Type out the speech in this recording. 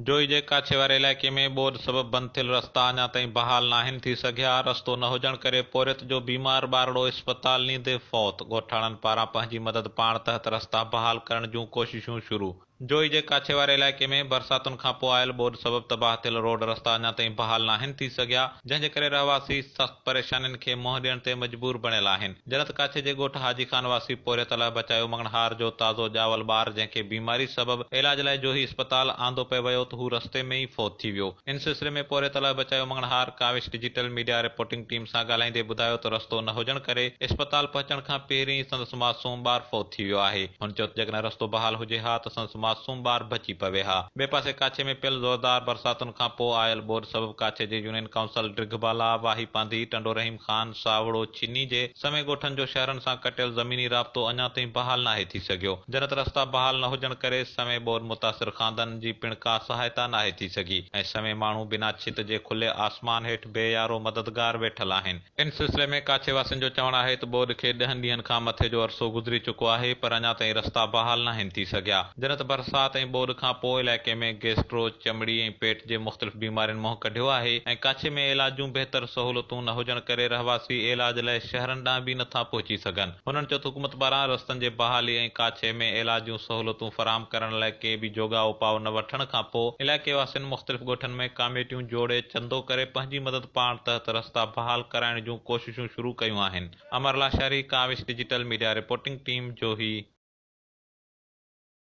جوئي جي ڪاڇي واري علائقي ۾ ٻوڏ سبب بند ٿيل رستا اڃا تائين بحال ناهن ٿي سگهيا، رستو نه هجڻ ڪري پورهيت جو بيمار ٻارڙو اسپتال نيندي فوت، ڳوٺاڻن پاران پنهنجي مدد پاڻ تحت رستا بحال ڪرڻ جون ڪوششون شروع. جوئي جي ڪاڇي واري علائقي ۾ برساتن کانپوء آيل ٻوڏ سبب تباهه ٿيل روڊ رستا اڃا تائين بحال ناهن ٿي سگهيا، جنهن جي ڪري رهواسي سخت پريشانين کي منهن ڏيڻ تي مجبور بڻيل آهن. جنت ڪاڇي جي ڳوٺ حاجي خان واسي پورهيت الله بچايو مڱڻهار جو تازو ڄاول ٻار جنهن کي بيماري سبب علاج لاء جوهي اسپتال آندو پئي ويو ته هو رستي ۾ ئي فوت ٿي ويو ان سلسلي ۾ پورهيت Allah Bachayo Manganhar Kawish digital media reporting team سان ڳالهائيندي ٻڌايو ته رستو نه هجڻ ڪري اسپتال پهچڻ کان پهرين ئي سندس معصوم ٻار فوت ٿي ويو آهي هن چيو ته جيڪڏهن رستو بحال هجي ها ته سندس معصوم ٻار بچي پوي ها ٻئي پاسي ڪاڇي ۾ پيل زوردار برساتن کان پوء آيل ٻوڏ سبب ڪاڇي جي يونين ڪائونسل ڊگهه بالا، واهي پانڌي، ٽنڊو رحيم خان، ساوڙو، چني جي سوين ڳوٺن جو شهرن سان ڪٽيل زميني رابطو اڃا تائين بحال ناهي ٿي سگهيو. جنت رستا بحال نه هجڻ ڪري سوين ٻوڏ متاثر خاندانن جي پڻ ڪا سهائتا ناهي ٿي سگهي ۽ سوين ماڻهو بنا ڇت جي کلي آسمان هيٺ بي يارو مددگار ويٺل آهن. ان سلسلي ۾ ڪاڇي واسين جو چوڻ آهي ته ٻوڏ کي ڏهن ڏينهن کان مٿي جو عرصو گذري چڪو آهي پر اڃا تائين رستا بحال ناهن ٿي سگهيا. جڏهن ته برسات ۽ ٻوڏ کان پوء علائقي ۾ گيسٽرو، چمڙي ۽ پيٽ جي مختلف بيمارين منهن ڪڍيو آهي ۽ ڪاڇي ۾ عيلاج جون بهتر سهولتون نه هجڻ ڪري رهواسي عيلاج لاء شهرن ڏانهن به نٿا پهچي سگهن. هنن چيو ته حڪومت پاران رستن جي بحالي ۽ ڪاڇي ۾ عيلاج جون سهولتون فراهم ڪرڻ لاء ڪي به جوڳا اپاء نه وٺڻ کان پوء علائقي واسين مختلف ڳوٺن ۾ ڪاميٽيون جوڙي چندو ڪري پنهنجي مدد پاڻ تحت رستا بحال ڪرائڻ جون ڪوششون شروع ڪيون آهن Amar Lashari, Kawish digital media reporting team, Johi.